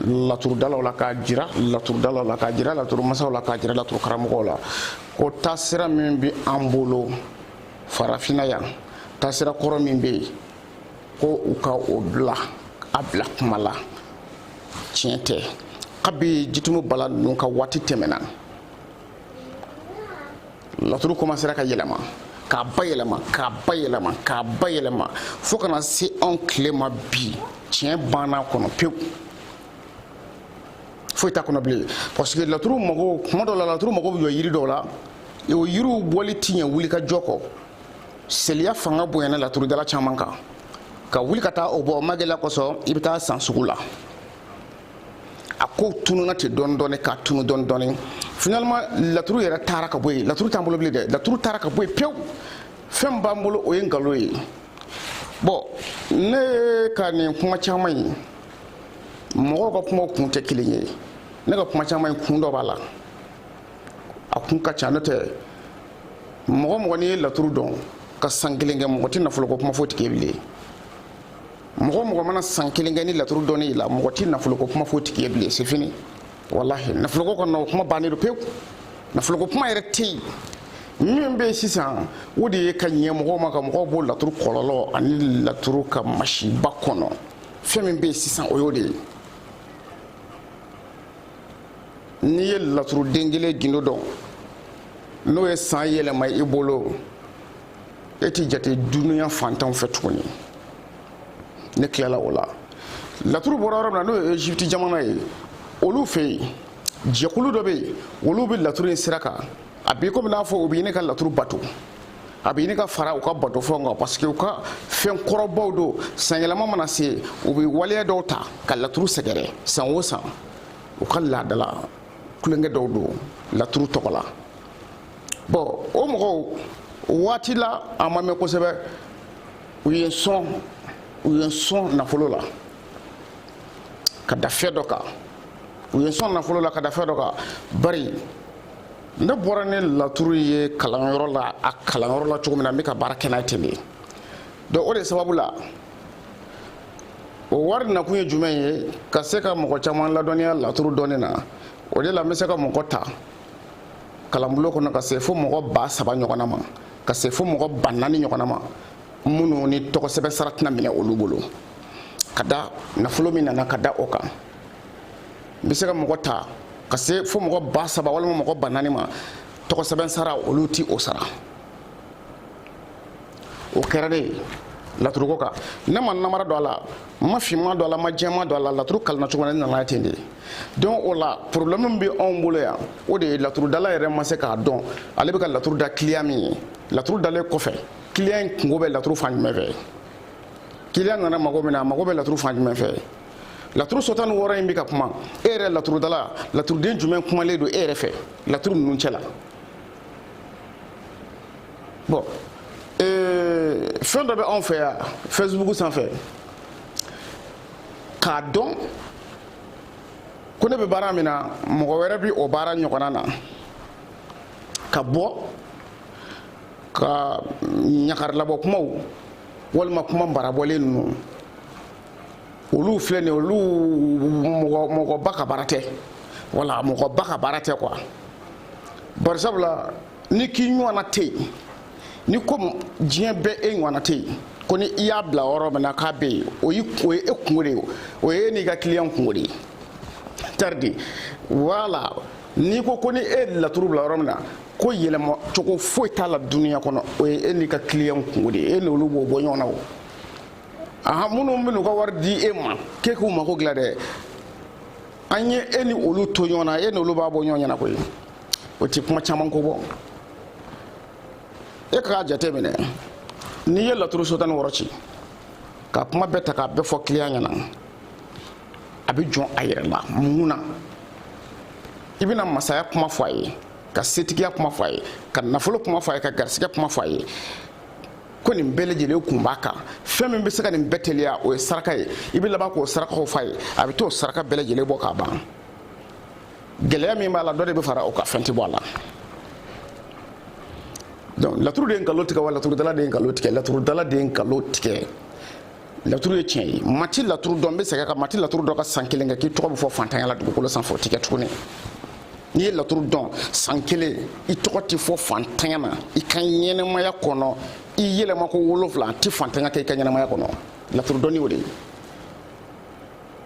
laturudalaw la k'a jira laturudalaw la k'a jira laturumasaw la k'a jira laturukaramɔgɔw la ko taasira min bɛ an bolo farafinna yan taasira kɔrɔ min bɛ yen ko u ka o bila a bila kuma la tiɲɛ tɛ kabi jitumu bala ninnu ka waati tɛmɛna laturu komansera ka yɛlɛma k'a bayɛlɛma k'a bayɛlɛma k'a bayɛlɛma fo ka na se anw tile ma bi tiɲɛ bann'a kɔnɔ pewu foyi t'a kɔnɔ bilen parce que laturu mago kuma dɔ la laturu mago bɛ jɔ yiri dɔw la o yiriw bɔli ti ɲɛ wulikajɔ kɔ seliya fanga bonyana laturudala caman kan ka wuli ka taa o bɔ magɛlɛ kosɔn i bɛ t'a san sugu la a ko tununa ten dɔɔni dɔɔni ka tunu dɔɔni dɔɔni finalement laturu yɛrɛ taara ka bɔ yen laturu t'an bolo bilen dɛ laturu taara ka bɔ yen pewu fɛn b'an bolo o ye nkalon ye bɔn ne ka nin kuma caman ye mɔgɔw ka kumaw kun tɛ kelen ye ne ka kuma caman ye kun dɔ b'a la a kun ka ca n'o tɛ mɔgɔ mɔgɔ n'i ye laturu dɔn ka san kelen kɛ mɔgɔ tɛ nafoloko kuma f'o tigi ye bilen mɔgɔ mɔgɔ mana san kelen kɛ nin laturu dɔnni la mɔgɔ tɛ nafoloko kuma f'o tigi ye bilen c'est fini walahi nafoloko kɔni o kuma bannen don pewu nafoloko kuma yɛrɛ tɛ yen min bɛ sisan o de ye ka ɲɛ mɔgɔw ma ka mɔgɔw bɔ laturu kɔlɔlɔ ani laturu ka masiba kɔnɔ fɛn min bɛ sisan o y'o de ye n'i ye laturuden kelen gindo dɔn n'o ye san yɛlɛma i bolo e t'i jate dunuya fantanw fɛ tuguni ne tilala o la laturu bɔra yɔrɔ min na n'o ye egypte jamana ye olu fɛ yen jɛkulu dɔ bɛ yen olu bɛ laturu in sira kan a b'i komi i n'a fɔ u bɛ ɲini ka laturu bato a bɛ ɲini ka fara u ka batofɛnw kan parce que u ka fɛn kɔrɔbaw don sanyɛlɛma mana se u bɛ waleya dɔw ta ka laturu sɛgɛrɛ san o san u ka laadala tulonkɛ dɔw don laturu tɔgɔ la bɔn o mɔgɔw waati la a ma mɛn kosɛbɛ u ye n sɔn u ye n sɔn nafolo la ka da fɛn dɔ kan u ye n sɔn nafolo la ka da fɛn dɔ kan bari ne bɔra ni laturu ye kalanyɔrɔ la a kalanyɔrɔ la cogo min na n bɛ ka baara kɛ n'a ye ten de donc o de sababu la o wari nakun ye jumɛn ye ka se ka mɔgɔ caman ladɔnniya laturu dɔnni na o de la n bɛ se ka mɔgɔ ta kalanbulon kɔnɔ ka se fo mɔgɔ ba saba ɲɔgɔnna ma ka se fo mɔgɔ ba naani ɲɔgɔnna ma minnu ni tɔgɔsɛbɛn sara tɛna minɛ olu bolo ka da nafolo min nana ka da o kan n bɛ se ka mɔgɔ ta ka se fo mɔgɔ ba saba walima mɔgɔ ba naani ma tɔgɔsɛbɛn sara olu ti o sara o kɛra de ye laturuko kan ne ma namara don a la n ma finma don a la n ma jɛma don a la laturu kalanna cogo na ne nana ten de ye donc o la problème min bɛ anw bolo yan o de ye laturudala yɛrɛ ma se k'a dɔn ale bɛ ka laturu da client min ye laturu dalen kɔfɛ client in kungo bɛ laturu fan jumɛn fɛ client nana mago min na a mago bɛ laturu fan jumɛn fɛ laturu so tan ni wɔɔrɔ in bɛ ka kuma e yɛrɛ laturudala laturuden jumɛn kumalen don e yɛrɛ fɛ laturu ninnu cɛ la bon ee, fɛn dɔ bɛ anw fɛ yan Facebook sanfɛ k'a dɔn ko ne bɛ baara min na mɔgɔ wɛrɛ bɛ o baara ɲɔgɔnna na ka bɔ ka ɲagarilabɔ kumaw walima kuma marabɔlen ninnu olu filɛ nin olu mɔgɔba ka baara tɛ wala mɔgɔba ka baara tɛ quoi bari sabu la n'i k'i ɲɔgɔnna tɛ yen ni komi diɲɛ bɛɛ e ɲɔgɔnna tɛ yen ko ni i y'a bila yɔrɔ min na k'a bɛ yen o ye e kungo de ye o ye e n'i ka client kungo de ye taridi wala n'i ko ko ni e laturu bila yɔrɔ min na ko yɛlɛma cogo foyi t'a la duniya kɔnɔ o ye e n'i ka client kungo de ye e n'olu b'o bɔ ɲɔgɔn na o aha minnu bɛn'u ka wari di e ma k'e k'u mako dilan dɛ an ye e ni olu to ɲɔgɔn na e ni olu b'a bɔ ɲɔgɔn ɲɛna koyi o ti kuma caman ko bɔ e k'a jate minɛ n'i ye laturu so tan ni wɔɔrɔ ci ka kuma bɛɛ ta k'a bɛɛ fɔ client ɲɛna a bɛ jɔn a yɛrɛ la mun na i bɛna masaya kuma fɔ a ye ka setigiya kuma fɔ a ye ka nafolo kuma fɔ a ye ka garisigɛ kuma fɔ a ye ko nin bɛɛ lajɛlen kun b'a kan fɛn min bɛ se ka nin bɛɛ teliya o ye saraka ye i bɛ laban k'o sarakaw f'a ye a bɛ t'o saraka bɛɛ lajɛlen bɔ k'a ban gɛlɛya min b'a la dɔ de bɛ fara o kan fɛn tɛ bɔ a la donc laturu de ye nkalon tigɛ wa laturudala de ye nkalon tigɛ laturudala de ye nkalon tigɛ laturu ye tiɲɛ ye maa ti laturu dɔn n bɛ segin a kan maa ti laturu dɔn ka san kelen kɛ k'i tɔgɔ bɛ fɔ fantanya la dugukolo sanfɛ o ti kɛ tuguni n'i ye laturu dɔn san kelen i tɔgɔ tɛ fɔ fantanya na i ka ɲɛnɛmaya kɔnɔ i yɛlɛma ko wolonfila a tɛ fantanya kɛ i ka ɲɛnɛmaya kɔnɔ laturu dɔnni o de ye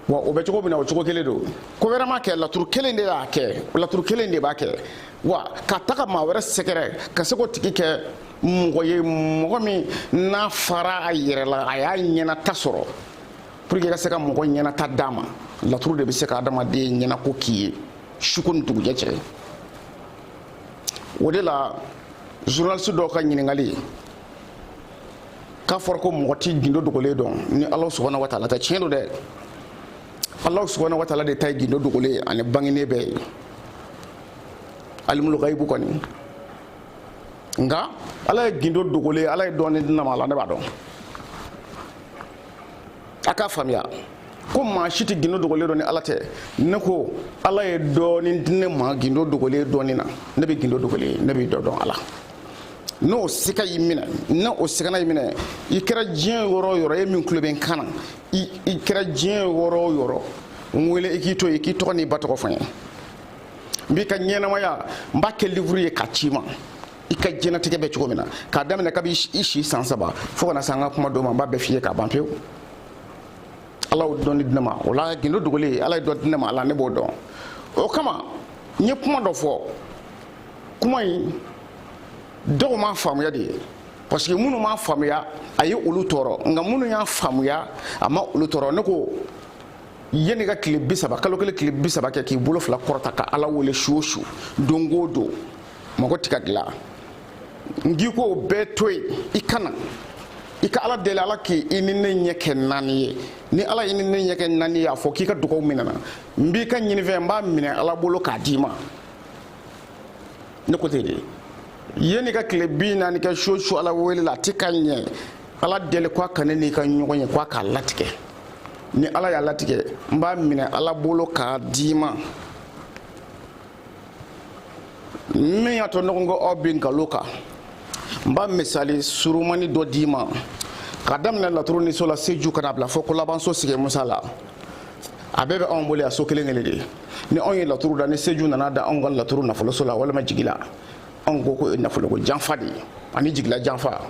wa o bɛ cogo min na o cogo kelen don ko wɛrɛ m'a kɛ laturu kelen de y'a kɛ laturu kelen de b'a kɛ wa ka taga maa wɛrɛ sɛgɛrɛ ka se k'o tigi kɛ mɔgɔ ye mɔgɔ min n'a fara a yɛrɛ la a y'a ɲɛnata sɔrɔ pour que i ka se ka mɔgɔ ɲɛnata d'a ma laturu de bɛ se ka adamaden ɲɛnako k'i ye suko ni dugujɛ cɛ o de la journaliste dɔw ka ɲininkali k'a fɔra ko mɔgɔ ti gindo dogolen dɔn ni ala subahana wa taala tɛ tiɲɛ don dɛ ala subahana wa taala de ta ye gindo dogolen ani bangenen bɛɛ ye alimul gaibu kɔni nka ala ye gindo dogolen ye ala ye dɔɔni di ne ma a la ne b'a dɔn a k'a faamuya ko maa si tɛ gindo dogolen dɔn ni ala tɛ ne ko ala ye dɔɔni di ne ma gindo dogolen dɔnni na ne bɛ gindo dogolen ye ne bɛ dɔ dɔn a la n'o sika y'i minɛ n'o sikana y'i minɛ i kɛra diɲɛ yɔrɔ o yɔrɔ e min tulo bɛ n kan na i kɛra diɲɛ yɔrɔ o yɔrɔ n wele i k'i to yen i k'i tɔgɔ n'i ba tɔgɔ fɔ n ye n b'i ka ɲɛnamaya n b'a kɛ livuru ye k'a ci i ma i ka diɲɛlatigɛ bɛ cogo min na k'a daminɛ kabi i si san saba fo ka na se an ka kuma don ma n b'a bɛɛ f'i ye k'a ban pewu ala y'o dɔnni di ne ma o la gindo dogolen ala ye dɔ di ne ma a la ne b'o dɔn o kama n ye kuma dɔ fɔ kuma in dɔw m'a faamuya de ye parce que minnu m'a faamuya a ye olu tɔɔrɔ nka minnu y'a faamuya a ma olu tɔɔrɔ ne ko yanni ka tile bi saba kalo kelen tile bi saba kɛ k'i bolo fila kɔrɔta ka ala wele su o su don o don mago ti ka dilan n k'i k'o bɛɛ to yen i ka na i ka ala deli ala k'i ni ne ɲɛ kɛ naani ye ni ala y'i ni ne ɲɛ kɛ naani ye a fɔ k'i ka dugaw minɛna n b'i ka ɲinifɛn n b'a minɛ ala bolo k'a d'i ma ne ko ten de yanni ka tile bi naani kɛ su o su ala wele la a ti ka ɲɛ ala deli k'a ka ne n'i ka ɲɔgɔn ye k'a k'a latigɛ ni ala y'a latigɛ n b'a minɛ ala bolo k'a d'i ma min y'a to ɲɔgɔn ko aw bɛ nkalon kan n b'a misali surumani dɔ d'i ma ka daminɛ laturu ni so la seju ka na bila fo kolabanso sigi musa la a bɛɛ bɛ anw bolo yan so kelen kelen de ni anw ye laturu da ni seju nana da anw ka laturu nafoloso la walima jigila anw ko ko nafoloko janfa de ye ani jigila janfa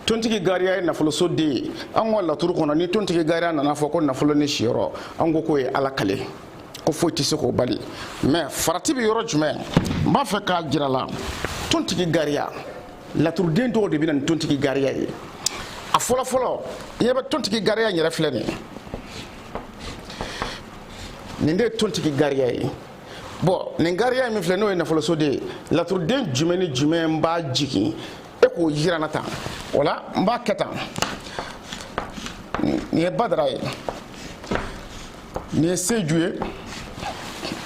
tontigi gariya ye nafoloso den ye an ka laturu kɔnɔ ni tontigi gariya nana fɔ ko nafolo ni siyɔrɔ an ko k'o ye ala kale ko foyi tɛ se k'o bali mɛ farati bɛ yɔrɔ jumɛn n b'a fɛ k'a jira a la tontigi gariya laturuden dɔw de bɛ na ni tontigi gariya ye a fɔlɔfɔlɔ i ɲɛ bɛ tontigi gariya yɛrɛ filɛ nin nin de ye tontigi gariya ye bɔn nin gariya min filɛ n'o ye nafoloso de ye laturuden jumɛn ni jumɛn b'a jigin e k'o jira n na tan o la n b'a kɛ tan nin ye badara ye nin ye seju ye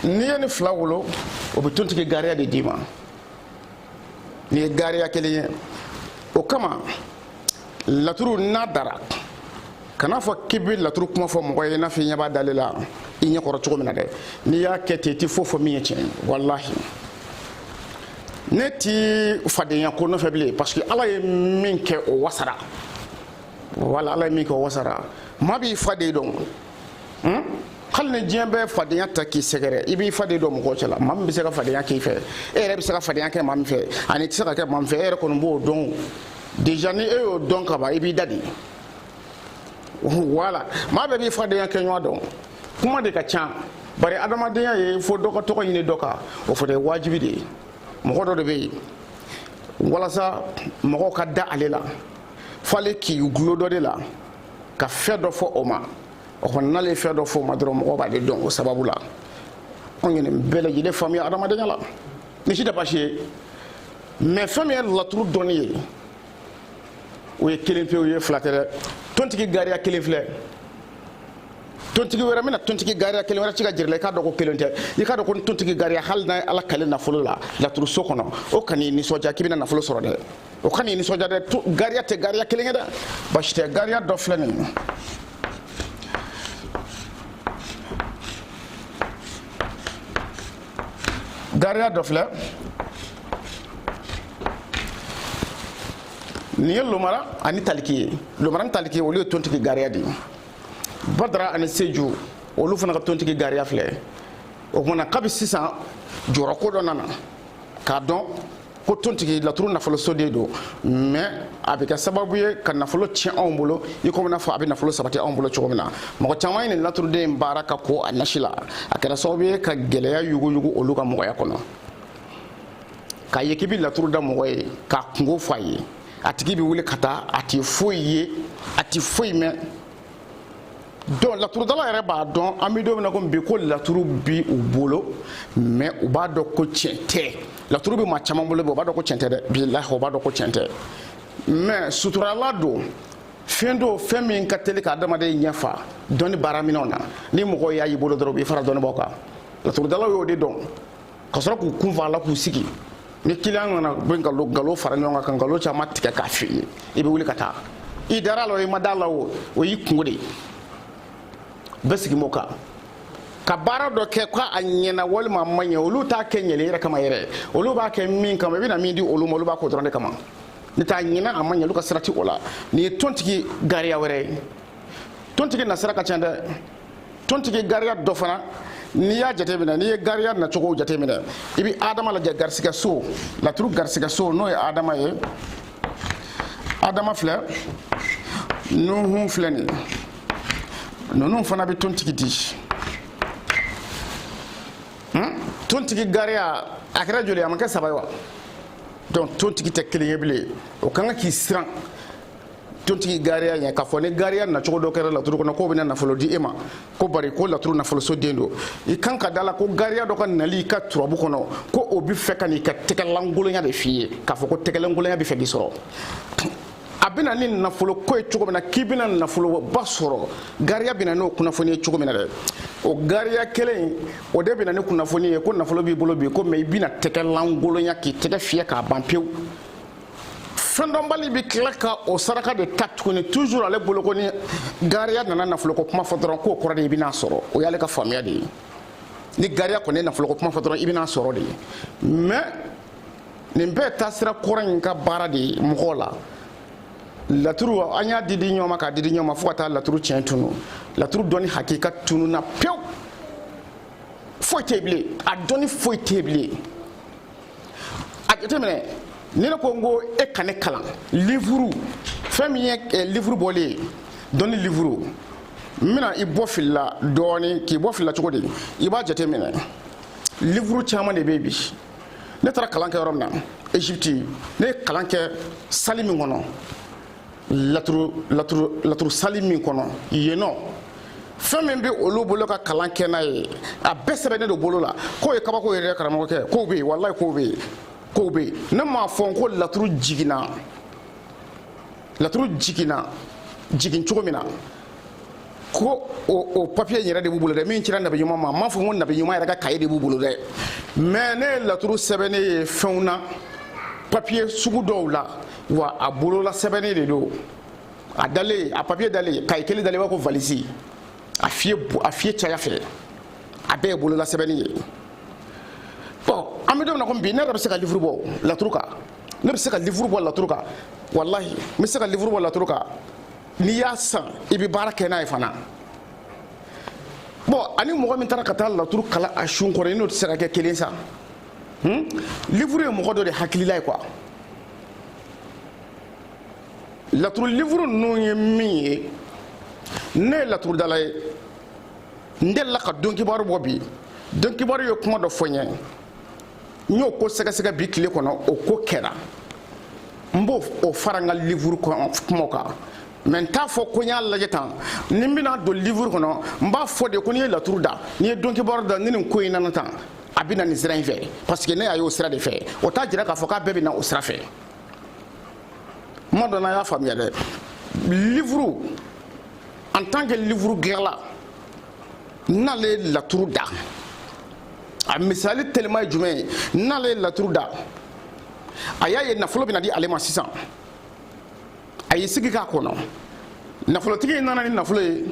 n'i ye nin fila wolo o bɛ tontigi gariya de d'i ma nin ye gariya kelen ye o kama laturu n'a dara kana fɔ k'i bɛ laturu kuma fɔ mɔgɔ ye i n'a fɔ i ɲɛ b'a dalen la i ɲɛ kɔrɔ cogo min na dɛ n'i y'a kɛ ten i tɛ foyi fɔ min ye tiɲɛ ye walahi ne ti fadenya ko nɔfɛ bilen parce que ala ye min kɛ o wasara wala ala ye min kɛ o wasara maa b'i faden dɔn hmm? hali ni diɲɛ bɛɛ fadenya ta k'i sɛgɛrɛ i b'i faden dɔn mɔgɔw cɛla maa min bɛ se ka fadenya k'i fɛ e yɛrɛ bɛ se ka fadenya kɛ maa min fɛ ani i tɛ se ka kɛ maa min fɛ e yɛrɛ kɔni b'o dɔn déjà ni e y'o dɔn ka ban i b'i da de wala maa bɛɛ b'i fadenya kɛ ɲɔgɔn dɔn kuma de ka ca bari adamadenya ye fo dɔ ka tɔgɔ ɲini dɔ kan o fana ye wajibi de ye mɔgɔ dɔ de bɛ yen walasa mɔgɔw ka da ale la f'ale k'i gulo dɔ de la ka fɛn dɔ fɔ o ma o kɔni n'ale ye fɛn dɔ fɔ o ma dɔrɔn mɔgɔw b'ale dɔn o sababu la anw ye nin bɛɛ lajɛlen faamuya adamadenya la nin si tɛ baasi ye mais fɛn min ye laturu dɔnni ye o ye kelen pe o ye fila tɛ dɛ tontigi gariya kelen filɛ tontigi wɛrɛ bɛna tontigi gariya kelen wɛrɛ ci k'a jira i la i k'a dɔn ko kelen tɛ i k'a dɔn ko tontigi gariya hali n'a ye ala kale nafolo la laturuso kɔnɔ o kan'i nisɔndiya k'i bɛna nafolo sɔrɔ dɛ o kan'i nisɔndiya dɛ gariya tɛ gariya kelen ye dɛ basi tɛ gariya dɔ filɛ nin ye gariya dɔ filɛ nin ye lomara ani taliki ye lomara ni taliki olu ye tontigi gariya de ye badara ani seju olu fana ka tontigi gariya filɛ o tuma na kabi sisan jɔyɔrɔ ko dɔ nana k'a dɔn ko tontigi laturu nafolo so de don mais a bɛ kɛ sababu ye ka nafolo tiɲɛ anw bolo i komi n'a fɔ a bɛ nafolo sabati anw bolo cogo min na mɔgɔ caman ye nin laturuden in baara ka ko a nasi la a kɛra sababu ye ka gɛlɛya yuguyugu olu ka mɔgɔya kɔnɔ k'a ye k'i bɛ laturu da mɔgɔ ye k'a kunko fɔ a ye a tigi bɛ wuli ka taa a tɛ foyi ye a tɛ foyi mɛn donc laturudala yɛrɛ b'a dɔn an bɛ don min na ko bi ko laturu bi u bolo mais u b'a dɔn ko tiɲɛ tɛ laturu bɛ maa caman bolo bi u b'a dɔn ko tiɲɛ tɛ dɛ bilahi u b'a dɔn ko tiɲɛ tɛ mais suturalan don fɛn don fɛn min ka teli ka adamaden ɲɛfa dɔnni baaraminɛnw na ni mɔgɔw y'a y'i bolo dɔrɔn u b'i fara dɔnnibaaw kan laturudalaw y'o de dɔn ka sɔrɔ k'u kun fa a la k'u sigi ni client nana bɛ nkalon nkalon fara ɲɔgɔn kan ka nkalon caman tigɛ k'a f'i ye i bɛ wuli ka taa i dara a la o i ma da a la o o y'i kunko de ye bɛɛ sigi m'o kan ka baara dɔ kɛ ko a ɲɛna walima a ma ɲɛ olu t'a kɛ ɲɛli yɛrɛ kama yɛrɛ olu b'a kɛ min kama i bɛna min di olu ma olu b'a k'o dɔrɔn de kama n'o t'a ɲɛna a ma ɲɛ olu ka sira tɛ o la nin ye tontigi gariya wɛrɛ ye tontigi nasira ka ca dɛ tontigi gariya dɔ fana n'i y'a jateminɛ n'i ye gariya nacogo jateminɛ i bɛ adama lajɛ garisigɛ so laturu garisigɛ so n'o ye adama ye adama filɛ nuhun filɛ nin ninnu fana bɛ tontigi di hmm? tontigi gariya a kɛra joli a ma kɛ saba ye wa donc tontigi tɛ kelen ye bilen o ka kan k'i siran tontigi gariya ɲɛ k'a fɔ ni gariya nacogo dɔ kɛra laturu kɔnɔ k'o bɛna nafolo di e ma ko bari ko laturu nafoloso den don i kan ka da la ko gariya dɔ ka nali i ka turabu kɔnɔ ko o bɛ fɛ ka n'i ka tɛgɛlankolonya de f'i ye k'a fɔ ko tɛgɛlankolonya bɛ fɛ k'i sɔrɔ a bɛna ni nafolo ko ye cogo min na k'i bɛna nafoloba sɔrɔ gariya bɛna n'o kunnafoni ye cogo min na dɛ o gariya kelen o de bɛna ni kunnafoni ye ko nafolo b'i bolo bi ko mais i bɛna tɛgɛlankolonya k'i tɛgɛ fiyɛ k'a ban pewu fɛndɔnbali bɛ tila ka o saraka de ta tuguni toujours ale bolo ko ni gariya nana nafoloko kuma fɔ dɔrɔn k'o kɔrɔ de i bɛna sɔrɔ o y'ale ka faamuya de ye ni gariya kɔni ye nafoloko kuma fɔ dɔrɔn i bɛna sɔrɔ de ye mais nin bɛɛ taasira kɔrɔ in ka baara de ye mɔgɔw la laturu an y'a di di ɲɔgɔn ma k'a di di ɲɔgɔn ma fo ka taa laturu tiɲɛ tunu laturu dɔnni hakika tununa pewu foyi tɛ bilen a dɔnni foyi tɛ bilen a jateminɛ ni ne ko n ko e ka ne kalan livuru fɛn min ye eh, livuru bɔlen ye dɔnni livuru n bɛna i bɔ fili la dɔɔni k'i bɔ fili la cogo di i b'a jateminɛ livuru caman de bɛ yen bi ne taara kalan kɛ yɔrɔ min na égypte ne ye kalan kɛ sali min kɔnɔ laturu sali min kɔnɔ yen nɔ fɛn min bɛ olu bolo ka kalan kɛ n'a ye a bɛɛ sɛbɛnnen don bolo la k'o ye kabako yɛrɛ karamɔgɔkɛ k'o bɛ yen walayi k'o bɛ yen k'o bɛ yen ne m'a fɔ ko laturu jiginna laturu jiginna jigin cogo min na ko o papiye yɛrɛ de b'u bolo dɛ min cira nabi ɲuman ma n m'a fɔ ko nabi ɲuman yɛrɛ ka kaye de b'u bolo dɛ mais ne ye laturu sɛbɛnnen ye fɛnw na papiye sugu dɔw la wa a bolola sɛbɛnnen de don a dalen a papiye dalen kaye kelen dalen b'a ko valisi a fiye a fiye caya fɛ a bɛɛ ye bolola sɛbɛnni ye bon an bɛ don min na komi bi ne yɛrɛ bɛ se ka livuru bɔ laturu kan ne bɛ se ka livuru bɔ laturu kan walahi n bɛ se ka livuru bɔ laturu kan n'i y'a san i bɛ baara kɛ n'a ye fana bon ani mɔgɔ min taara ka taa laturu kalan a sun kɔrɔ i n'o tɛ se ka kɛ kelen sa hmm? livuru ye mɔgɔ dɔ de hakilila ye quoi laturu livuru ninnu ye min ye ne ye laturudala ye n delila ka don kibaru bɔ bi don kibaru ye kuma dɔ fɔ n ye n y'o ko sɛgɛsɛgɛ bi tile kɔnɔ o ko kɛra n b'o fara n ka livuru kumaw kan mais n t'a fɔ ko n y'a lajɛ tan ni n bɛna don livuru kɔnɔ n b'a fɔ de ko n'i ye laturu da n'i ye don kibaru da ni nin ko in nana tan a bɛ na nin sira in fɛ parce que ne y'a ye o sira de fɛ o t'a jira k'a fɔ k'a bɛɛ bɛ na o sira fɛ kuma dɔ la y'a faamuya dɛ livuru en tant que livuru dilanla n'ale ye laturu da a misali telima ye jumɛn ye n'ale ye laturu da a y'a ye nafolo bɛna di ale ma sisan a y'i sigi k'a kɔnɔ nafolotigi in nana ni nafolo ye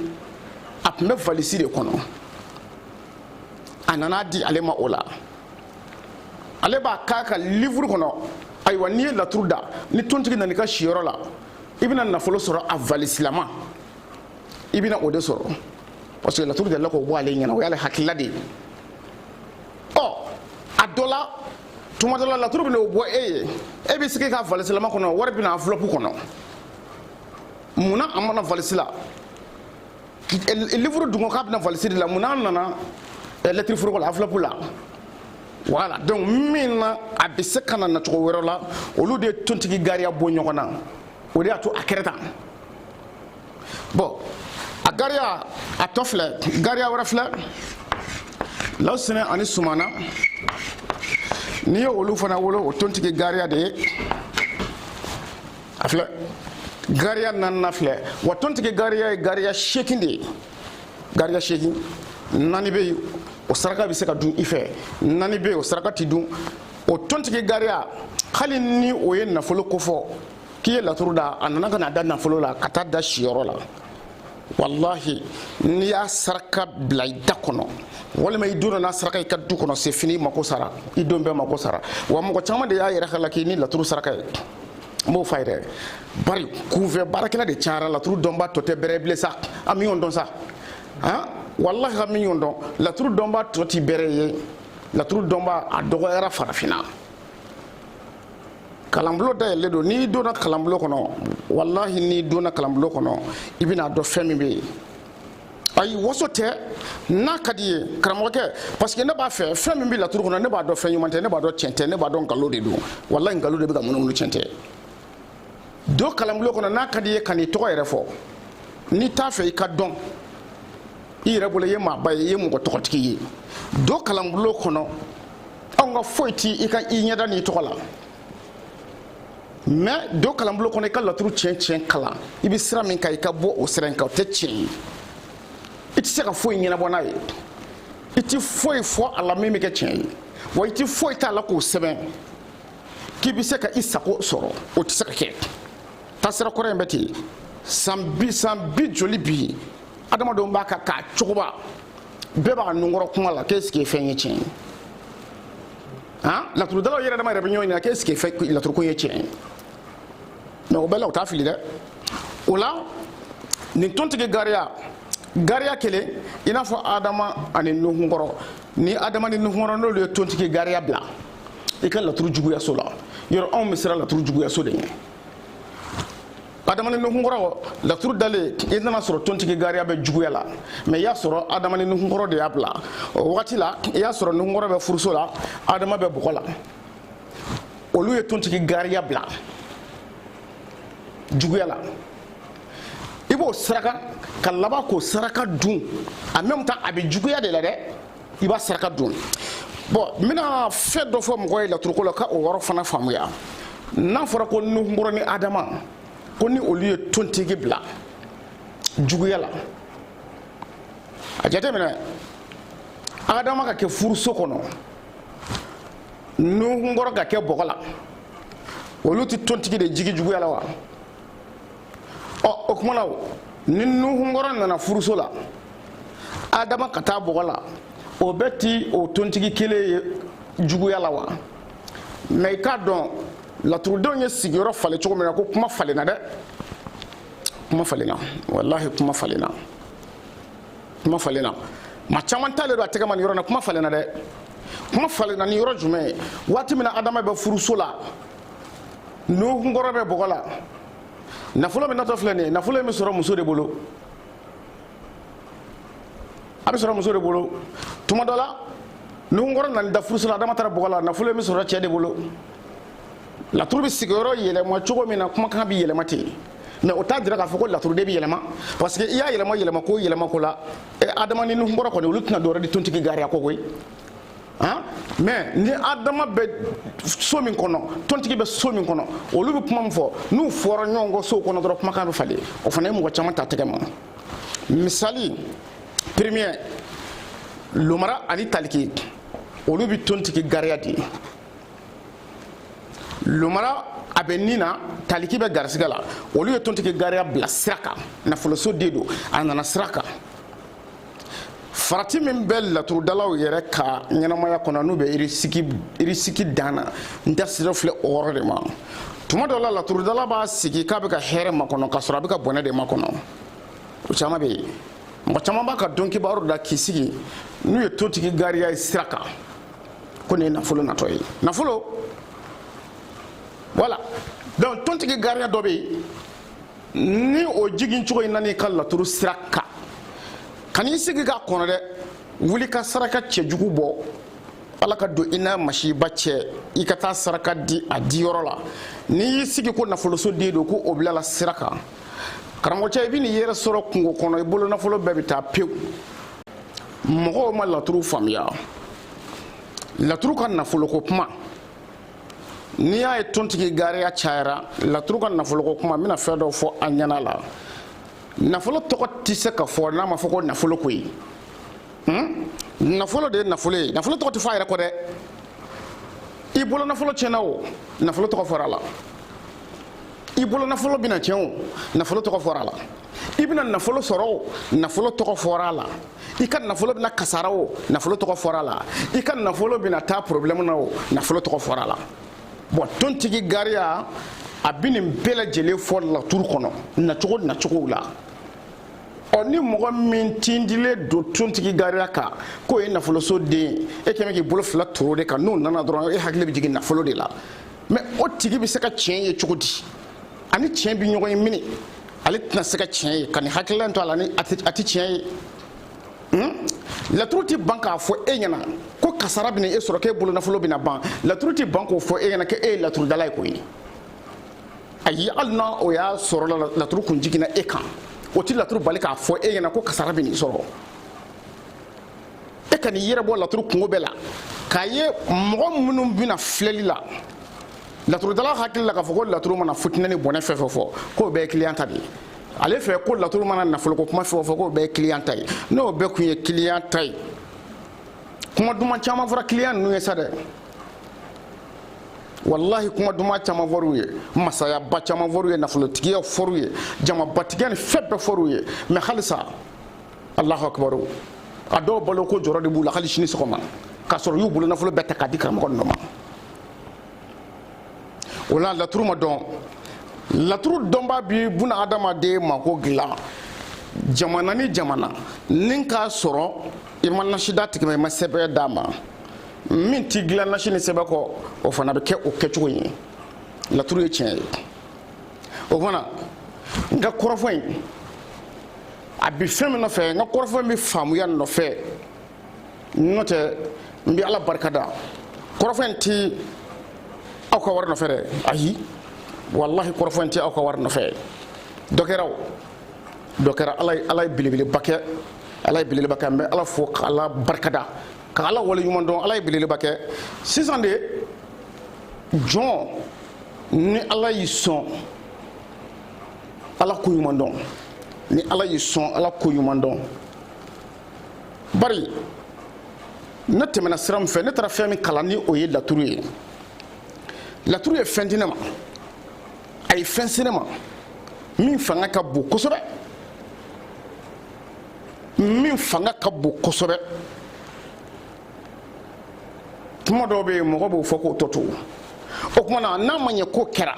a tun bɛ valisi de kɔnɔ a nan'a di ale ma o la ale b'a k'a ka livuru kɔnɔ ayiwa n'i ye laturu da ni tontigi nana i ka siyɔrɔ la i bɛna nafolo sɔrɔ a valisilama i bɛna o de sɔrɔ parce que laturu delila k'o bɔ ale ɲɛna o y'ale hakilila de ye ɔ a dɔ la tuma dɔ la laturu bɛna o bɔ e ye e bɛ sigi ka valisilama kɔnɔ wari bɛ na enveloppe kɔnɔ mun na a ma na valisi la livre dun ko k'a bɛ na valisi de la mun na a nana lɛtiri foroko la enveloppe la voilà donc min na a bɛ se ka na nacogo wɛrɛ la olu de ye tontigi gariya bɔ ɲɔgɔn na o de y'a to a kɛra tan bon a gariya a tɔ filɛ gariya wɛrɛ filɛ lawusinɛ ani sumana n'i ye olu fana wolo o tontigi gariya de ye a filɛ gariya naaninan filɛ wa tontigi gariya ye gariya seegin de ye gariya seegin naani bɛ yen o saraka bɛ se ka dun i fɛ naani bɛ yen o saraka tɛ dun o tontigi gariya hali ni o ye nafolo kofɔ k'i ye laturu da a nana ka na da nafolo la ka taa da siyɔrɔ la walahi n'i y'a saraka bila i da kɔnɔ walima i don n'a saraka i ka du kɔnɔ c'est fini i mako sara i don bɛɛ mako sara wa mɔgɔ caman de y'a yɛrɛ ka la k'i ni laturu saraka ye n b'o f'a ye dɛ bari kunfɛ baarakɛla de cayara laturu dɔnba tɔ tɛ bɛrɛ bilen sa an bɛ ɲɔgɔn dɔn sa han walahi an bɛ ɲɔgɔn dɔn laturu dɔnba tɔ ti bɛrɛ ye laturu dɔnba a dɔgɔyara farafinna kalanbulon dayɛlɛlen don n'i donna kalanbulon kɔnɔ walahi n'i donna kalanbulon kɔnɔ i bɛna dɔn fɛn min bɛ yen ayi waso tɛ n'a ka di i ye karamɔgɔkɛ parce que ne b'a fɛ fɛn min bɛ laturu kɔnɔ ne b'a dɔn fɛn ɲuman tɛ ne b'a dɔn tiɲɛ tɛ ne b'a dɔn nkalon de don walahi nkalon de bɛ ka munumunu tiɲɛ tɛ don kalanbulon kɔnɔ n'a ka di i ye kan'i tɔgɔ yɛrɛ fɔ n'i t'a fɛ i ka dɔn i yɛrɛ bolo i ye maaba ye i ye mɔgɔ tɔgɔtigi ye don kalanbulon kɔnɔ anw ka foyi ti i ka i ɲɛda n'i tɔgɔ la mais don kalanbolo kɔnɔ i ka laturu tiɲɛ tiɲɛ kalan i bɛ sira min kan i ka bɔ o sira in kan o tɛ tiɲɛ ye i tɛ se ka foyi ɲɛnabɔ n'a ye i tɛ foyi fɔ a la min bɛ kɛ tiɲɛ ye wa i tɛ foyi t'a la k'o sɛbɛn k'i bɛ se ka i sago sɔrɔ o tɛ se ka kɛ taasira kɔrɔ in bɛ ten san bi joli bi adamadenw b'a kan k'a cogoba bɛɛ b'a nunkɔrɔ kuma la k'est-ce que fɛn ye tiɲɛ ye han laturudalaw yɛrɛ dama yɛrɛ bɛ ɲɔgɔn ɲininka k'est-ce que laturuko ye tiɲɛ ye mais o bɛɛ la u t'a fili dɛ o la nin tontigi gariya gariya kelen i n'a fɔ adama ani nuhun kɔrɔ ni adama ni nuhun kɔrɔ n'olu ye tontigi gariya bila i ka laturu juguyaso la yɔrɔ anw bɛ siran laturu juguyaso de ɲɛ adama ni nuhunkɔrɔ laturu dalen i nana sɔrɔ tontigi gariya bɛ juguya la mais i y'a sɔrɔ adama ni nuhunkɔrɔ de y'a bila o wagati la i y'a sɔrɔ nuhunkɔrɔ bɛ furuso la adama bɛ bɔgɔ la olu ye tontigi gariya bila juguya la i b'o saraka ka laban k'o saraka dun en même temps a bɛ juguya de la dɛ i b'a saraka dun bon n bɛna fɛn dɔ fɔ mɔgɔ ye laturuko la ka o yɔrɔ fana faamuya n'a fɔra ko nuhunkɔrɔ ni adama ko ni olu ye tontigi bila juguya la a jateminɛ adama ka kɛ furuso kɔnɔ nuhunkɔrɔ ka kɛ bɔgɔ la olu tɛ tontigi de jigi juguya la wa ɔ o kuma na ni nuhunkɔrɔ nana furuso la adama ka taa bɔgɔ la o bɛ ti o tontigi kelen ye juguya la wa mais i k'a dɔn laturudenw ye sigiyɔrɔ falen cogo min na ko kuma falenna dɛ kuma falenna walahi kuma falenna kuma falenna maa caman talen don a tɛgɛ ma nin yɔrɔ na kuma falenna dɛ kuma falenna ni yɔrɔ jumɛn ye waati min na adama bɛ furuso la nuhunkɔrɔ bɛ bɔgɔ la nafolo min natɔ filɛ nin ye nafolo in bɛ sɔrɔ muso de bolo a bɛ sɔrɔ muso de bolo tuma dɔ la nuhunkɔrɔ nana da furuso la adama taara bɔgɔ la nafolo in bɛ sɔrɔ cɛ de bolo laturu bɛ sigiyɔrɔ yɛlɛma cogo min na kumakan bɛ yɛlɛma ten mais o t'a jira k'a fɔ ko laturuden bɛ yɛlɛma parce que i y'a yɛlɛma yɛlɛma ko yɛlɛma ko la adama ni nuhunkɔrɔ kɔni olu tɛna dɔwɛrɛ di tontigi gariya kɔ koyi han mais ni adama bɛ so min kɔnɔ tontigi bɛ so min kɔnɔ olu bɛ kuma min fɔ n'u fɔra ɲɔgɔn kɔ sow kɔnɔ dɔrɔn kumakan bɛ falen o fana ye mɔgɔ caman ta tɛgɛ ma misali premier lomara ani taliki olu bɛ tontigi gariya di lomara a bɛ ni na taliki bɛ garisigɛ la olu ye tontigi gariya bila sira kan nafoloso de don a nana sira kan farati min bɛ laturudalaw yɛrɛ ka ɲɛnamaya kɔnɔ n'u bɛ irisiki dan na n da sira filɛ o yɔrɔ de ma tuma dɔ la laturudala b'a sigi k'a bɛ ka hɛrɛ makɔnɔ k'a sɔrɔ a bɛ ka bɔnɛ de makɔnɔ o caman bɛ yen mɔgɔ caman b'a ka don kibaru da k'i sigi n'u ye tontigi gariya ye sira kan ko nin ye nafolo natɔ ye nafolo voilà donc tontigi gariya dɔ bɛ yen ni o jigin cogo in nan'i ka laturu sira kan kan'i sigi k'a kɔnɔ dɛ wuli ka saraka cɛjugu bɔ ala ka don i n'a masiba cɛ i ka taa saraka di a diyɔrɔ la n'i y'i sigi ko nafoloso den don ko o bilala sira kan karamɔgɔcɛ i bɛn'i yɛrɛ sɔrɔ kungo kɔnɔ i bolo nafolo bɛɛ bɛ taa pewu mɔgɔw ma laturu faamuya laturu ka nafoloko kuma n'i y'a ye tontigi gariya cayara laturu ka nafoloko kuma n bɛna fɛn dɔ fɔ a ɲɛna la nafolo tɔgɔ tɛ se ka fɔ n'a ma fɔ ko nafolo koyi hmm? nafolo de ye nafolo ye nafolo tɔgɔ tɛ fɔ a yɛrɛ kɔ dɛ i bolo nafolo tiɲɛna o nafolo tɔgɔ fɔra a la i bolo nafolo bɛna tiɲɛ o nafolo tɔgɔ fɔra a la i bɛna nafolo sɔrɔ o nafolo tɔgɔ fɔra a la i ka nafolo bɛna kasara o nafolo tɔgɔ fɔra a la i ka nafolo bɛna taa problème na o nafolo tɔgɔ fɔra a la bon tontigi gariya a bɛ nin bɛɛ lajɛlen fɔ laturu kɔnɔ nacogo nacogow la ɔ ni mɔgɔ min tindilen don tontigi gariya kan k'o ye nafoloso den ye kɛmɛ k'i bolo fila turu o de kan n'o nana dɔrɔn e hakili bɛ jigin nafolo de la mais o tigi bɛ se ka tiɲɛ ye cogo di a ni tiɲɛ bɛ ɲɔgɔn ye mini ale tɛna se ka tiɲɛ ye ka nin hakilila to a la ni a tɛ tiɲɛ ye hmm? laturu tɛ ban k'a fɔ e ɲɛna ko kasara bɛna e sɔrɔ k'e bolonafolo bɛna ban laturu tɛ ban k'o fɔ e ɲɛna k'e ye laturudala ye koyi ayi hali n'a o y'a sɔrɔ laturu kun jiginna e kan o tɛ laturu bali k'a fɔ e ɲɛna ko kasara bɛn'i sɔrɔ e kan'i yɛrɛ bɔ laturu kunko bɛɛ la k'a ye mɔgɔ minnu bɛ na filɛli la laturudala hakili la k'a fɔ ko laturu mana fitinɛ ni bɔnɛ fɛn fɛn fɔ k'o bɛɛ ye kiliyan ta de ye ale fɛ ko laturu mana nafoloko kuma fɛn o fɛn k'o bɛɛ ye kiliyan ta ye n'o bɛɛ tun ye kiliyan ta ye kuma duman caman fɔra kiliyan ninnu ye sa dɛ walahi kuma duman caman fɔr'u ye masayaba caman fɔr'u ye nafolotigiya fɔr'u ye jamabatigiya ni fɛn bɛɛ fɔr'u ye mais halisa alahu akibaru a dɔw baloko jɔrɔ de b'u la hali sini sɔgɔma k'a sɔrɔ u y'u bolo nafolo bɛɛ ta k'a di karamɔgɔ ninnu ma o la laturu ma dɔn laturu dɔnbaa bi buna adamaden mako dilan jamana ni jamana ni k'a sɔrɔ i ma nasi d'a tigi ma i ma sɛbɛn d'a ma min ti dilan nasi ni sɛbɛn kɔ o fana bɛ kɛ o kɛcogo ye laturu ye tiɲɛ ye o fana n ka kɔrɔfɔ in a bi fɛn min nɔfɛ n ka kɔrɔfɔ in bɛ faamuya nɔfɛ n'o tɛ n bɛ ala barika da kɔrɔfɔ in ti aw ka wari nɔfɛ dɛ ayi walahi kɔrɔfɔ in ti aw ka wari nɔfɛ dɔ kɛra o dɔ kɛra ala ye ala ye belebeleba kɛ ala ye belebeleba kɛ n bɛ ala fo ka ala barika da ka ala wale ɲuman dɔn ala ye belebeleba kɛ sisan de jɔn ni ala y'i sɔn ala ko ɲuman dɔn ni ala y'i sɔn ala ko ɲuman dɔn bari ne tɛmɛna sira min fɛ ne taara fɛn min kalan ni o ye laturu ye laturu ye fɛn di ne ma a ye fɛn se ne ma min fanga ka bon kosɛbɛ min fanga ka bon kosɛbɛ kuma dɔw bɛ yen mɔgɔ b'o fɔ k'o tɔ to o tuma na n'a ma ɲɛ k'o kɛra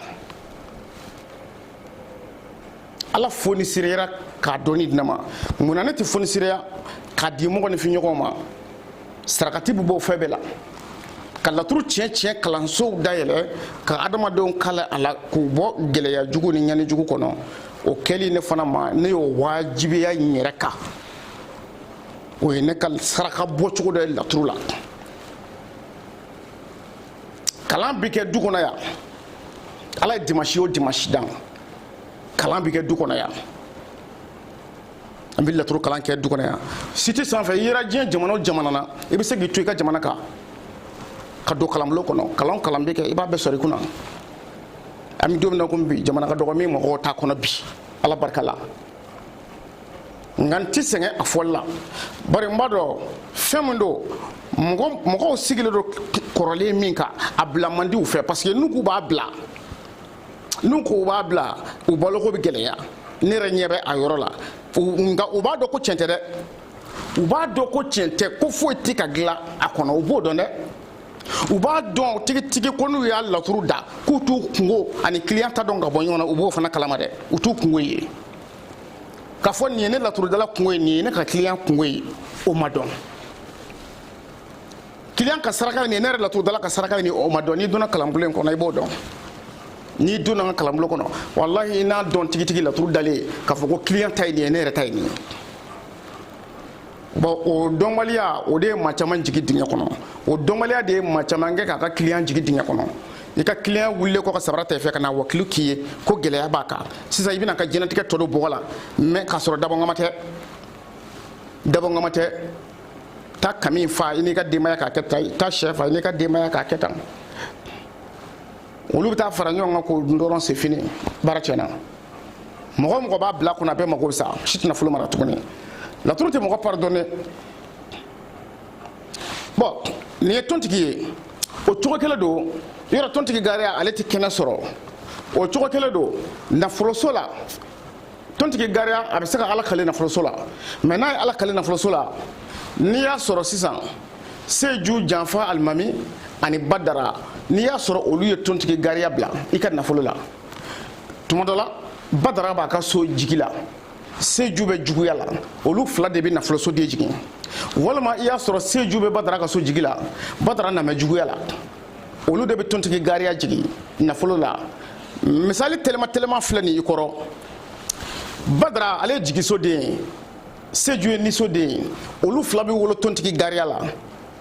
ala fonisireyara k'a dɔnni di ne ma mun na ne tɛ fonisireya k'a di mɔgɔninfin ɲɔgɔn ma sarakati bɛ bɔ fɛn bɛɛ la ka laturu tiɲɛ tiɲɛ kalansow dayɛlɛ ka adamadenw kalan a la k'u bɔ gɛlɛya jugu ni ɲani jugu kɔnɔ o kɛli ne fana ma ne y'o wajibiya n yɛrɛ kan o ye ne ka saraka bɔcogo dɔ ye laturu la kalan bɛ kɛ du kɔnɔ yan ala ye dimansi o dimansi dan kalan bɛ kɛ du kɔnɔ yan an bɛ laturu kalan kɛ du kɔnɔ yan site sanfɛ i yera diɲɛ jamana o jamana na i bɛ se k'i to i ka jamana kan ka don kalanbulon kɔnɔ kalan kalan bɛ kɛ i b'a bɛɛ sɔrɔ i kunna an bɛ don min na komi bi jamana ka dɔgɔ min mɔgɔw t'a kɔnɔ bi ala barika la nka n tɛ sɛgɛn a fɔli la bari n b'a dɔn fɛn min don mɔgɔw sigilen don kɔrɔlen min kan a bila man di u fɛ parce que n'u k'u b'a bila n'u k'u b'a bila u baloko bɛ gɛlɛya ne yɛrɛ ɲɛ bɛ a yɔrɔ la nka u b'a dɔn ko tiɲɛ tɛ dɛ u b'a dɔn ko tiɲɛ tɛ ko foyi tɛ ka dilan a kɔnɔ u b'o dɔn dɛ u b'a dɔn tigitigi ko n'u y'a laturu da k'u t'u kunko ani kiliyan ta dɔn ka bɔ ɲɔgɔn na u b'o fana kalama dɛ u t'u kunko ye k'a fɔ nin ye ne laturudala kunko ye nin ye ne ka kiliyan kunko ye o ma dɔn kiliyan ka saraka nin ye ne yɛrɛ laturudala ka saraka nin ye o ma dɔn n'i donna kalanbulon in kɔnɔ i b'o dɔn n'i donna n ka kalanbulon kɔnɔ walahi i n'a dɔn tigitigi laturu dalen k'a fɔ ko kiliyan ta ye nin ye ne yɛrɛ ta ye nin ye bon o dɔnbaliya o de ye maa caman jigi dingɛ kɔnɔ o dɔnbaliya de ye maa caman kɛ k'a ka kiliyan jigi dingɛ kɔnɔ i ka kiliyan wulilen kɔ ka sabara ta i fɛ ka na wakilu k'i ye ko gɛlɛya b'a kan sisan i bɛna a ka diɲɛlatigɛ tɔ don bɔgɔ la mais k'a sɔrɔ dabɔnkama tɛ dabɔnkama tɛ taa kami fa i n'i ka denbaya k'a kɛ tan taa shɛ fa i n'i ka denbaya k'a kɛ tan olu bɛ taa fara ɲɔgɔn kan k'o dun dɔrɔn c'est fini baara tiɲɛna mɔgɔ o mɔgɔ b'a bila kunna bɛɛ mago bɛ sa si tɛ nafolo mara tuguni laturu tɛ mɔgɔ pardonne bon nin ye tontigi ye o cogo kelen don yɔrɔ tontigi gariya ale tɛ kɛnɛ sɔrɔ o cogo kelen don nafoloso la tontigi gariya a bɛ se ka ala kale nafoloso la mais n'a ye ala kale nafoloso la n'i y'a sɔrɔ sisan seju janfa alimami ani badara n'i y'a sɔrɔ olu ye tontigi gariya bila i ka nafolo la tuma dɔ la badara b'a ka so jigi la seju bɛ juguya la olu fila de bɛ nafolosoden jigin walima i y'a sɔrɔ seju bɛ badara ka so jigi la badara namɛ juguya la olu de bɛ tontigi gariya jigin nafolo la misali teliman teliman filɛ nin i kɔrɔ badara ale ye jigisoden ye seju ye nisoden ye olu fila bɛ wolo tontigi gariya la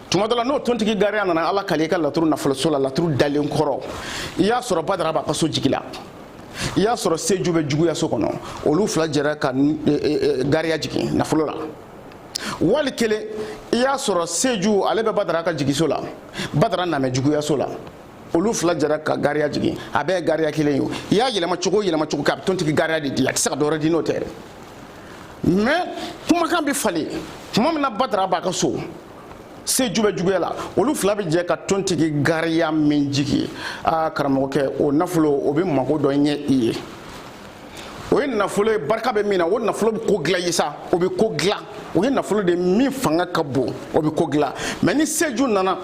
tuma dɔ la n'o tontigi gariya nana ala kale i ka laturu nafoloso la laturu dalen kɔrɔ i y'a sɔrɔ badara b'a ka so jigi la i y'a sɔrɔ seju bɛ juguya so kɔnɔ olu fila jɛra ka e, e, e, gariya jigin nafolo la wali kelen i y'a sɔrɔ seju ale bɛ badara ka jigiso la badara namɛ juguyaso la olu fila jɛra ka gariya jigin a bɛɛ ye gariya kelen ye i y'a yɛlɛma cogo o yɛlɛma cogo kɛ a bɛ tontigi gariya de di a tɛ se ka dɔ wɛrɛ di n'o tɛ dɛ mais kumakan bɛ falen tuma min na badara b'a ka so seju bɛ juguya la olu fila bɛ jɛ ka tontigi gariya min jigin aa karamɔgɔkɛ o nafolo o bɛ mago dɔ ɲɛ i ye o ye nafolo ye barika bɛ min na o nafolo bɛ ko dilan ye sa o bɛ ko dilan o ye nafolo de min fanga ka bon o bɛ ko dilan mais ni seju nana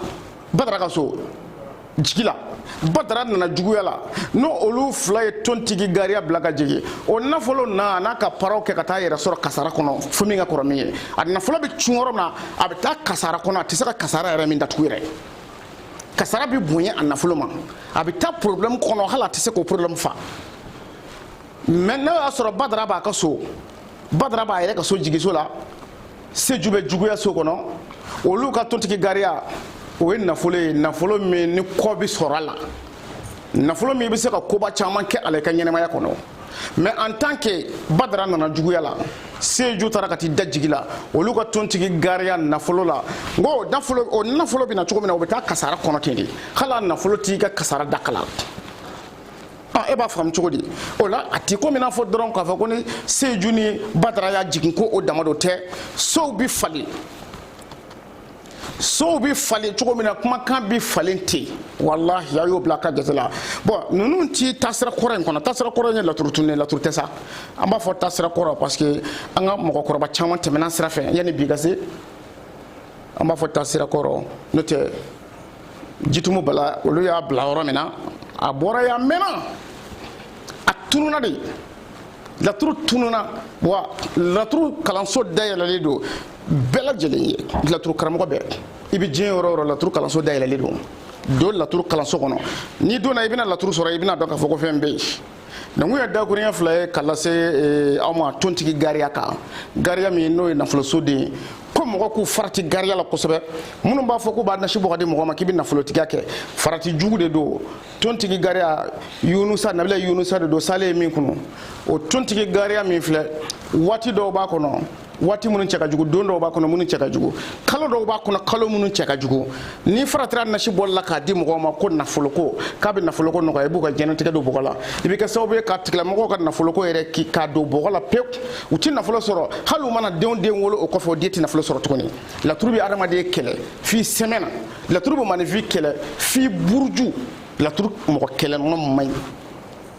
badara ka so jigi la badara nana juguya la n'o olu fila ye tontigi gariya bila ka jigin o nafolo na a n'a ka paraw kɛ ka taa yɛrɛ sɔrɔ kasara kɔnɔ fo min ka kɔrɔ min ye a nafolo bɛ cun yɔrɔ min na a bɛ taa kasara kɔnɔ a tɛ se ka kasara yɛrɛ min datugu yɛrɛ kasara bɛ bonya a nafolo ma a bɛ taa problème kɔnɔ hali a tɛ se k'o problème fa mais n'o y'a sɔrɔ badara b'a ka so badara b'a yɛrɛ ka so jigiso la seju bɛ juguya so kɔnɔ olu ka tontigi gariya o ye nafolo ye nafolo min ni kɔ bɛ sɔrɔ a la nafolo min bɛ se ka koba caman kɛ a la i ka ɲɛnamaya kɔnɔ mais en tant que badara nana juguya la seju taara ka t'i da jigi la olu ka tontigi gariya nafolo la n ko o nafolo o nafolo bɛ na cogo min na o bɛ taa kasara kɔnɔ ten de hali a nafolo t'i ka kasara dakala Ah, e b'a faamu cogo di o la a ti komi n'a fɔ dɔrɔn k'a fɔ ko ni seju ni badara y'a jigin ko o dama dɔ tɛ sow bɛ falen sow bɛ falen cogo min na kumakan bɛ falen ten walahi a y'o bila a ka jate la bon ninnu ti taasira kɔrɔ in kɔnɔ taasira kɔrɔ in ye laturu tun ye laturu tɛ sa an b'a fɔ taasira kɔrɔ parce que an ka mɔgɔkɔrɔba caman tɛmɛna sira fɛ yanni bi ka se an b'a fɔ taasira kɔrɔ n'o tɛ jitumu bala olu y'a bila yɔrɔ min na a bɔra yan mɛnna a tununa de laturu tununa wa laturu kalanso dayɛlɛlen don bɛɛ lajɛlen ye laturu karamɔgɔ bɛɛ i bɛ diɲɛ yɔrɔ o yɔrɔ laturu kalanso dayɛlɛlen don don laturu kalanso kɔnɔ n'i donna i bɛna laturu sɔrɔ i bɛna dɔn k'a fɔ ko fɛn bɛ yen donc n ye dakurunya fila ye ka lase eh, aw ma tontigi gariya kan gariya min n'o ye nafoloso den ye ko mɔgɔ k'u farati gariya la kosɛbɛ minnu b'a fɔ k'u b'a nasi bɔ ka di mɔgɔ ma k'i bɛ nafolotigiya kɛ farati jugu de don tontigi gariya yunusa nabila yunusa de don salen ye min kunu o tontigi gariya min filɛ waati dɔw b'a kɔnɔ waati minnu cɛ ka jugu don dɔw b'a kɔnɔ minnu cɛ ka jugu kalo dɔw b'a kɔnɔ kalo minnu cɛ ka jugu n'i faratira nasi bɔli la k'a di mɔgɔw ma ko nafoloko k'a bɛ nafoloko nɔgɔya i b'u ka diɲɛnatigɛ don bɔgɔ la i bɛ kɛ sababu ye k'a tigilamɔgɔw ka nafoloko yɛrɛ ki k'a don bɔgɔ la pewu u tɛ nafolo sɔrɔ hali u mana denw den wolo o kɔfɛ o den tɛ nafolo sɔrɔ tuguni laturu bɛ adamaden kɛlɛ f'i sɛmɛ na laturu bɛ maninfin kɛlɛ f'i buruju laturu mɔgɔ kɛlɛnɔ man ɲi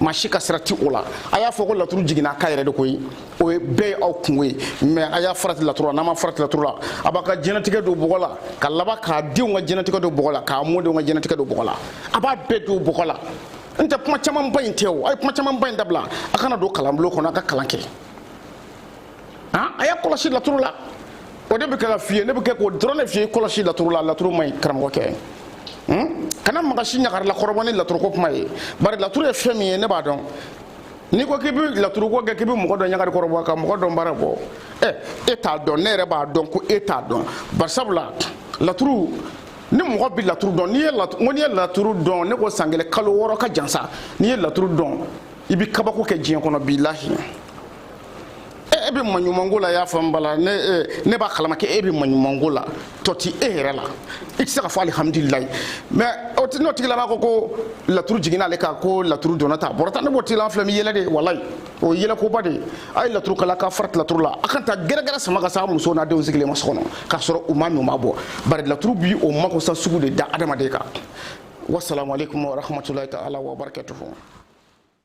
maa si ka sira ti o la a y'a fɔ ko laturu jiginna a kan yɛrɛ de koyi o ye bɛɛ ye aw kungo ye mais a y'a farati laturu la n'a ma farati laturu la a b'a ka diɲɛnatigɛ don bɔgɔ la ka laban k'a denw ka diɲɛnatigɛ don bɔgɔ la k'a mɔdenw ka diɲɛnatigɛ don bɔgɔ la a b'a bɛɛ don bɔgɔ la n tɛ kuma camanba in tɛ o a ye kuma camanba in dabila a ka na don kalanbulon kɔnɔ a ka kalan kɛ han a y'a kɔlɔsi laturu la o de bɛ kɛ ka f'i ye ne bɛ kɛ k'o dɔrɔn de f'i ye kɔlɔsi laturu la laturu man ɲi karamɔgɔkɛ kana mɔgɔ si ɲagarila kɔrɔbɔ ni laturuko kuma ye bari laturu ye fɛn min ye ne b'a dɔn n'i ko k'i bɛ laturuko kɛ k'i bɛ mɔgɔ dɔ ɲagari kɔrɔbɔ ka mɔgɔ dɔn baara bɔ ɛ e t'a dɔn ne yɛrɛ b'a dɔn ko e t'a dɔn bari sabula laturu ni mɔgɔ bɛ laturu dɔn n'i ye laturu n'i ye laturu dɔn ne ko san kelen kalo wɔɔrɔ ka jan sa n'i ye laturu dɔn i bɛ kabako kɛ diɲɛ kɔnɔ bilahi e bɛ maɲumanko la y'a faamu bala ne ne b'a kalama k'e bɛ maɲumanko la tɔ ti e yɛrɛ la i tɛ se ka fɔ alihamudulilayi mais o ti n'o tigila b'a ko ko laturu jiginna ale kan ko laturu donna tan a bɔra tan ne b'o tigila an filɛ min yɛlɛ de ye walayi o ye yɛlɛkoba de ye a ye laturu kalan k'a farati laturu la a kana taa gɛrɛgɛrɛ sama ka s'a muso n'a denw sigilen ma so kɔnɔ k'a sɔrɔ u ma min u ma bɔn bari laturu bi o makosa sugu de da adamaden kan wasalamu aleykum warahmatulahi taala wabarakatuhu